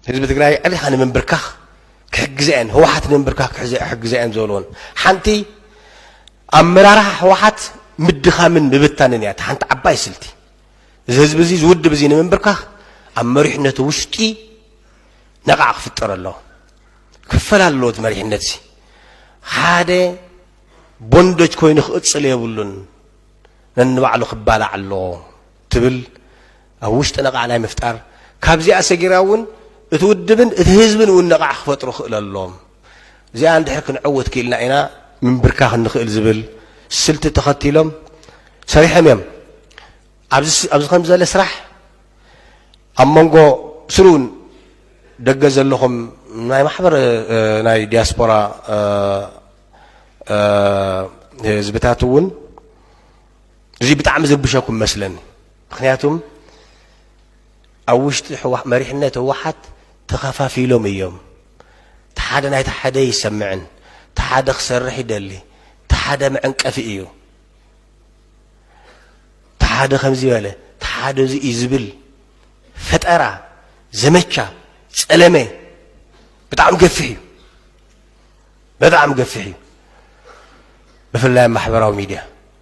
ህዝቢ ትግራይ ዕሊኻ ንምንብርካኽ ክሕግዘ እየን ህወሓት ንምንብርካኽ ክሕግዘ እየን ዝበልዎን ሓንቲ ኣመራርሓ ህወሓት ምድኻምን ምብታንን እያ ሓንቲ ዓባይ ስልቲ እዚ ህዝቢ እዚ ዝውድብ እዚ ንምንብርካኽ ኣብ መሪሕነቱ ውሽጢ ነቓዕ ክፍጠር ኣለዎ ክፈል ኣለዎ እቲ መሪሕነት እዚ ሓደ ቦንደጅ ኮይኑ ክቕፅል የብሉን ነንባዕሉ ክባላዕ ኣለዎ ትብል ኣብ ውሽጢ ነቓዕ ናይ ምፍጣር፣ ካብዚኣ ሰጊራ እውን እቲ ውድብን እቲ ህዝብን እውን ነቓዕ ክፈጥሩ ክእለሎም፣ እዚኣ እንድሕር ክንዕውት ክኢልና ኢና ምንብርካኽ እንኽእል ዝብል ስልቲ ተኸቲሎም ሰሪሖም እዮም። ኣብዚ ኣብዚ ከምዚ ዘለ ስራሕ ኣብ መንጎ ስሩን ደገ ዘለኹም ናይ ማሕበር ናይ ዲያስፖራ ህዝብታት እውን እዚ ብጣዕሚ ዝርብሸኩም መስለኒ። ምክንያቱም ኣብ ውሽጢ መሪሕነት ህወሓት ተኸፋፊሎም እዮም። እቲ ሓደ ናይቲ ሓደ ኣይሰምዕን፣ እቲ ሓደ ክሰርሕ ይደሊ፣ እቲ ሓደ መዕንቀፊ እዩ፣ እቲ ሓደ ከምዚ በለ፣ እቲ ሓደ እዚ እዩ ዝብል ፈጠራ ዘመቻ ጸለመ ብጣዕሚ ገፊሕ እዩ፣ በጣዕሚ ገፊሕ እዩ፣ ብፍላይ ኣብ ማሕበራዊ ሚድያ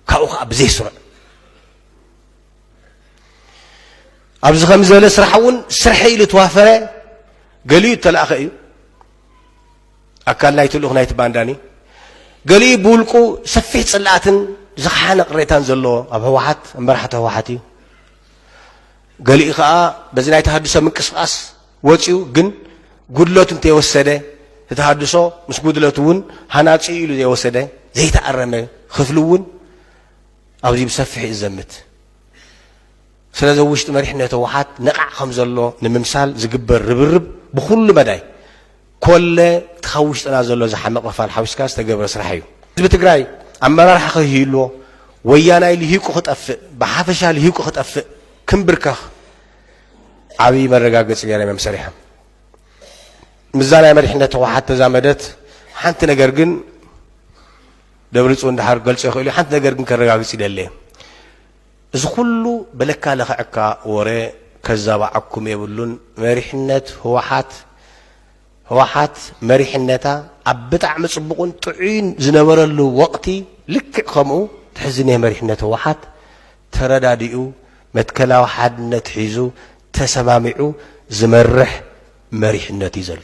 ካብኡ ከዓ ብዘይስሩዕ ኣብዚ ከምዚ ዝበለ ስራሕ እውን ስርሐ ኢሉ ተዋፈረ ገሊኡ እተላእኸ እዩ ኣካል ናይቲ ልኡኽ ናይቲ ባንዳኒ ገሊኡ ብውልቁ ሰፊሕ ፅላኣትን ዝኸሓነ ቅሬታን ዘለዎ ኣብ ህወሓት መራሕቲ ህወሓት እዩ ገሊኡ ከዓ በዚ ናይ ተሃድሶ ምንቅስቃስ ወፂኡ ግን ጉድለቱ እንተይወሰደ እቲ ሃድሶ ምስ ጉድለቱ እውን ሃናፂ ኢሉ ዘይወሰደ ዘይተኣረመ ክፍሊ እውን ኣብዚ ብሰፊሕ እዩ ዝዘምት። ስለዚ ኣብ ውሽጢ መሪሕነት ህወሓት ነቓዕ ከም ዘሎ ንምምሳል ዝግበር ርብርብ ብኩሉ መዳይ ኮለ እቲ ካብ ውሽጥና ዘሎ ዝሓመቕ ኽፋል ሓዊስካ ዝተገብረ ስራሕ እዩ። ህዝቢ ትግራይ ኣመራርሓ ከይህልዎ፣ ወያናይ ልሂቁ ክጠፍእ፣ ብሓፈሻ ልሂቁ ክጠፍእ፣ ክንብርከኽ ዓብዪ መረጋገፂ ገይሮም እዮም ሰሪሖም። ምስዛ ናይ መሪሕነት ህወሓት ተዛመደት ሓንቲ ነገር ግን ደብሪፅዮን ድሓር ክገልፆ ይኽእል እዩ ሓንቲ ነገር ግን ከረጋግፅ ይደሊ እዚ ኩሉ በለካ ለኽዕካ ወረ ከዛባዓኩም የብሉን መሪሕነት ህወሓት ህወሓት መሪሕነታ ኣብ ብጣዕሚ ፅቡቕን ጥዑይን ዝነበረሉ ወቕቲ ልክዕ ከምኡ ትሕዝኔ መሪሕነት ህወሓት ተረዳዲኡ መትከላዊ ሓድነት ሒዙ ተሰማሚዑ ዝመርሕ መሪሕነት እዩ ዘሎ።